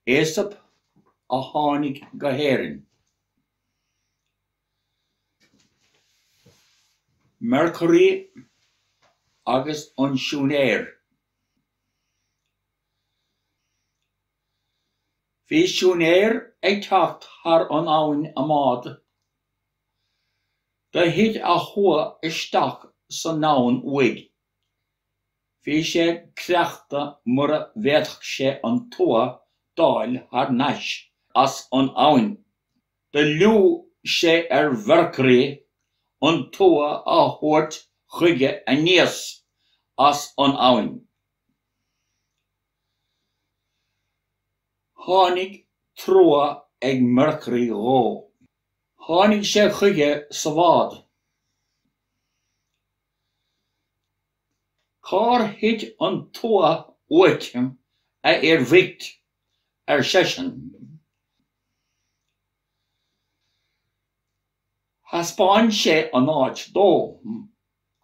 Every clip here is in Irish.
Aesop a tháinig go hÉirinn. Mercury agus an siúinéir. Bhí siúinéir ag teacht thar an abhainn i mbád. Do thit a thua isteach san abhainn uaidh. Bhí sé creachta mura bhféadfadh sé an tua d'fháil thar nais as an abhainn. Do liúgh sé ar Mhercury an tua a thabhairt chuige aníos as an abhainn. Tháinig trua ag Mercury dhó. Tháinig sé chuige sa bhád. Cár thit an tua uait, a fhir bhoicht? ar seisean. Thaispeáin sé an áit dó.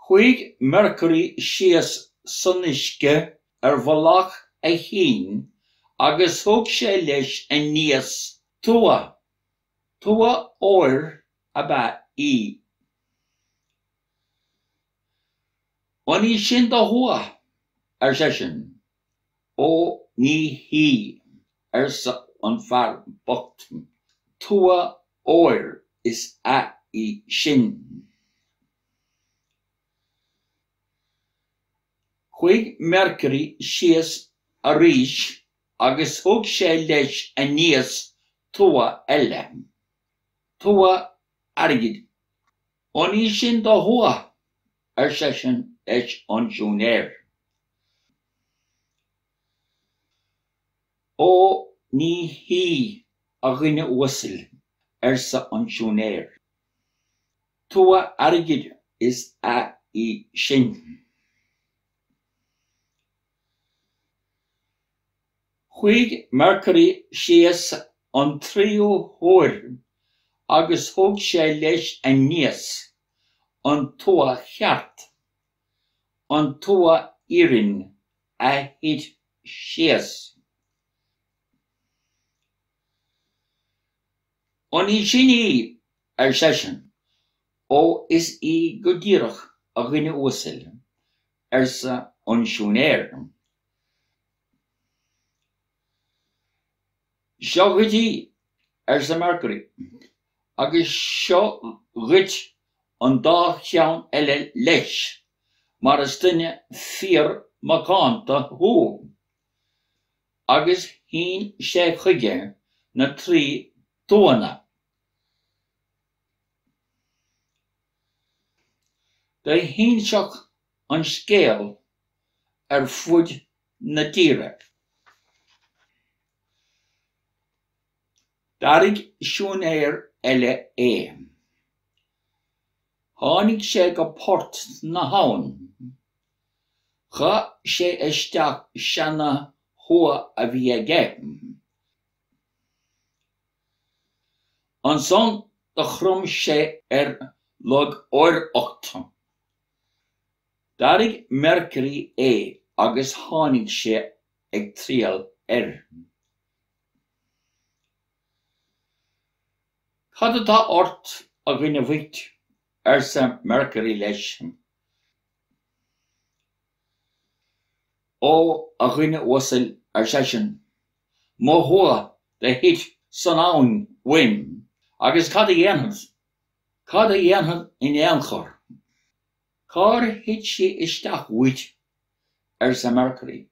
Chuaigh Mercury síos san uisce ar mhullach a chinn agus thug sé leis aníos tua. Tua óir ab ea í. An í sin do thua? ar seisean. Ó, ní hí, arsa an fear bocht, tua óir is ea í sin. Chuaigh Mercury síos arís agus thug sé leis aníos tua eile, tua airgid. An í sin do thua? ar seisean leis an siúinéir. Ó, ní hí, a dhuine uasail, arsa an siúinéir. Tua airgid is ea í sin. Chuaigh Mercury síos an tríú huair agus thug sé leis aníos an tua cheart, an tua iarainn a thit síos. An í sin í? ar seisean. Ó, is í go díreach, a dhuine uasail, arsa an siúinéir. Seo dhuit í, arsa Mercury, agus seo dhuit an dá cheann eile leis, mar is duine fíor macánta thú. Agus shín sé chuige na trí tuanna. Do hinseadh an scéal ar fud na tíre. D'airigh siúinéir eile é. Tháinig sé go port na habhann. Chaith sé isteach seana-thua a bhí aige. Ansan do chrom sé ar lógóireacht. D'airigh Mercury é agus tháinig sé ag triall air. Cad atá ort, a dhuine bhoicht? arsa Mercury leis. Ó, a dhuine uasail, ar seisean, mo thua do thit san abhainn uaim, agus cad a dhéanfad? Cad a dhéanfad in aon chor? Cár thit sí isteach uait? arsa Mercury.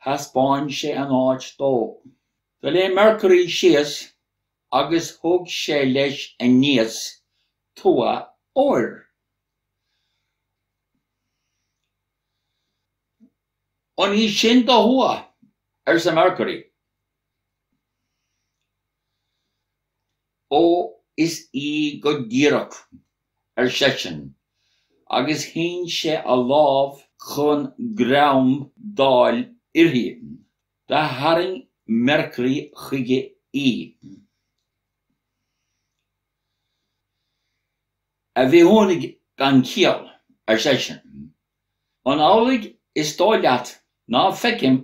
Thaispeáin sé an áit dó. Do léim Mercury síos agus thug sé leis aníos tua óir. An í sin do thua? arsa Mercury. Ó, is í go díreach, ar seisean, agus shín sé a lámh chun greim d'fháil uirthi. Do tharraing Mercury chuige í. A bhithiúnaigh gan chiall, ar seisean, an amhlaidh is dóigh leat ná feicim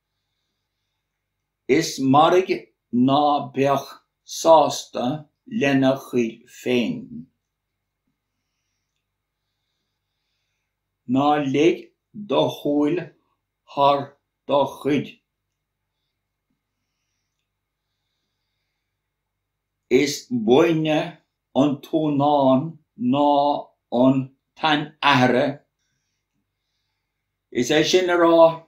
Is mairg ná beadh sásta lena chuid féin. Ná leig do shúil thar do chuid. Is buaine an t-uanán ná an t-anaithre, is é sin le rá,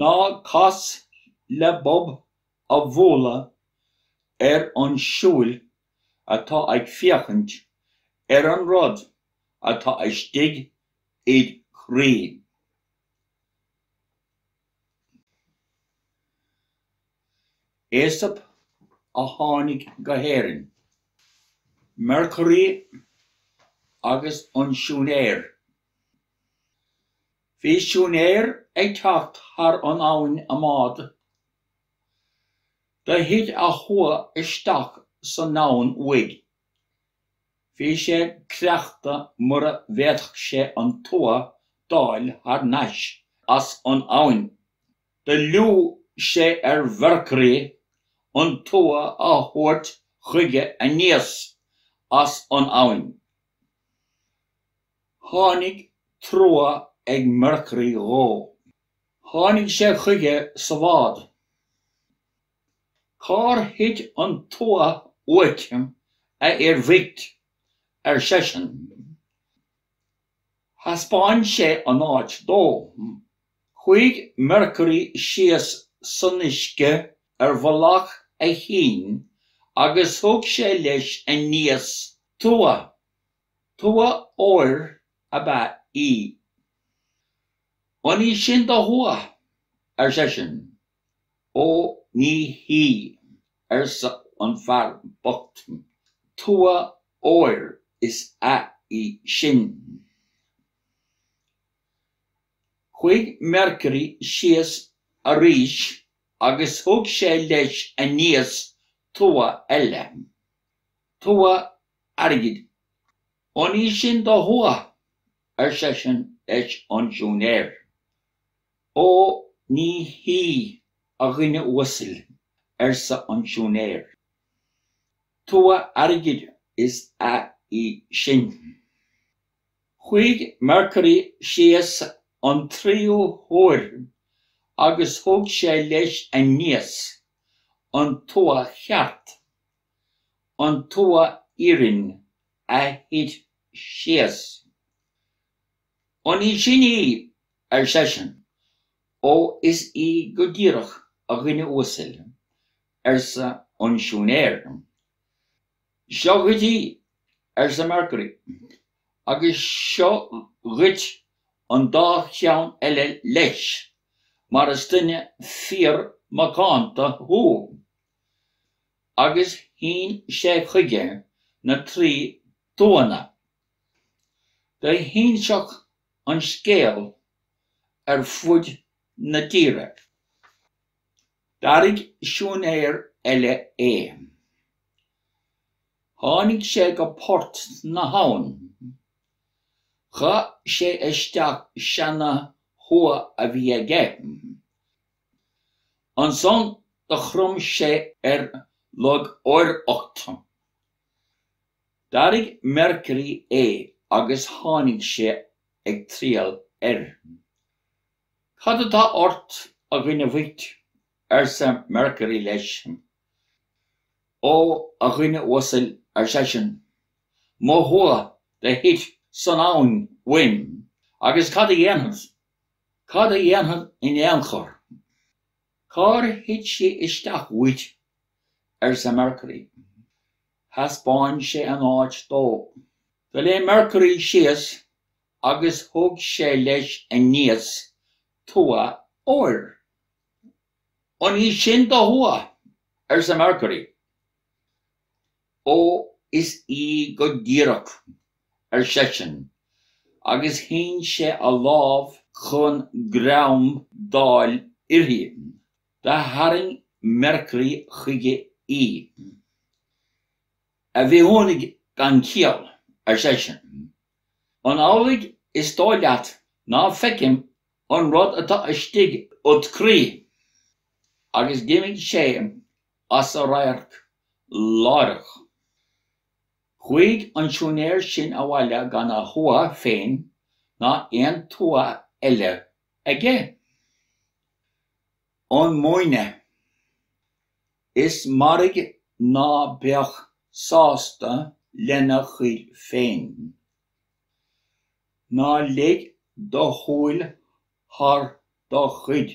Ná cas le bob a bhualadh ar an súil atá ag féachaint ar an rud atá istigh id chroí. Aesop a tháinig go hÉirinn. Mercury agus an siúinéir. Bhí siúinéir ag teacht thar an abhainn i mbád. Do thit a thua isteach san abhainn uaidh. Bhí sé creachta mura bhféadfadh sé an tua d'fháil thar nais as an abhainn. Do liúgh sé ar Mhercury an tua a thabhairt chuige aníos as an abhainn. Tháinig trua ag Mercury dhó. Tháinig sé chuige sa bhád. Cár thit an tua uait, a fhir bhoicht? ar seisean. Thaispeáin sé an áit dó. Chuaigh Mercury síos san uisce ar mhullach a chinn agus thug sé leis aníos tua. Tua óir ab ea í. An í sin do thua, ar seisean. Ó, ní hí, arsa an fear bocht. Tua óir is ea í sin. Chuaigh Mercury síos arís agus thug sé leis aníos tua eile. tua airgid. An í sin do thua, ar seisean leis an siúinéir. Ó ní hí, a dhuine uasail, arsa an siúinéir. Tua airgid is ea í sin. Chuaigh Mercury síos an tríú huair agus thug sé leis aníos an tua cheart. an tua iarainn a thit síos. An í sin í? ar seisean. Ó is í go díreach, a dhuine uasail, arsa an siúinéir. Seo dhuit í, arsa Mercury, agus seo dhuit an dá cheann eile leis, mar is duine fíor-mhacánta thú. agus shín sé chuige na trí tuanna. Do shín an scéal ar fuaid na dtíre. D'airigh siúinéir eile é. Tháinig sé go port na habhann. Chaith sé isteach seana-thua a bhí aige. Ansan do chrom sé ar lógóireacht. D'airigh Mercury é agus tháinig sé ag triall air. Cad atá ort, a dhuine bhoicht? arsa Mercury leis. Ó, a dhuine uasail, ar seisean, mo thua do thit san abhainn uaim, agus cad a dhéanfad Cad a dhéanfad in aon chor? Cár thit sí isteach uait? arsa Mercury. Thaispeáin sé an áit dó. Do léim Mercury síos agus thug sé leis aníos tua óir. An í sin do thua? arsa Mercury. Ó, is í go díreach, ar seisean, agus shín sé a lámh chun greim d'fháil uirthi. Do tharraing Mercury chuige í. A bhithiúnaigh gan chiall, ar seisean, an amhlaidh is dóigh leat ná feicim an rud atá istigh id chroí? Agus d'imigh sé as a radharc láithreach. Chuaigh an siúinéir sin abhaile gan a thua féin ná aon tua eile aige. An múineadh, is mairg ná beadh sásta lena chuid féin. Ná lig do shúil thar do chuid.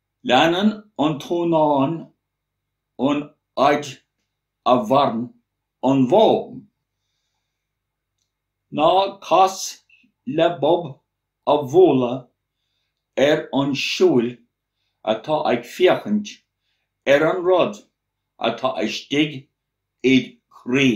Leanann an t-ainm an fhaid a mhaireann an bhó. Ná cas le bob a bhualadh ar an súil atá ag féachaint ar an rud atá istigh id chroí.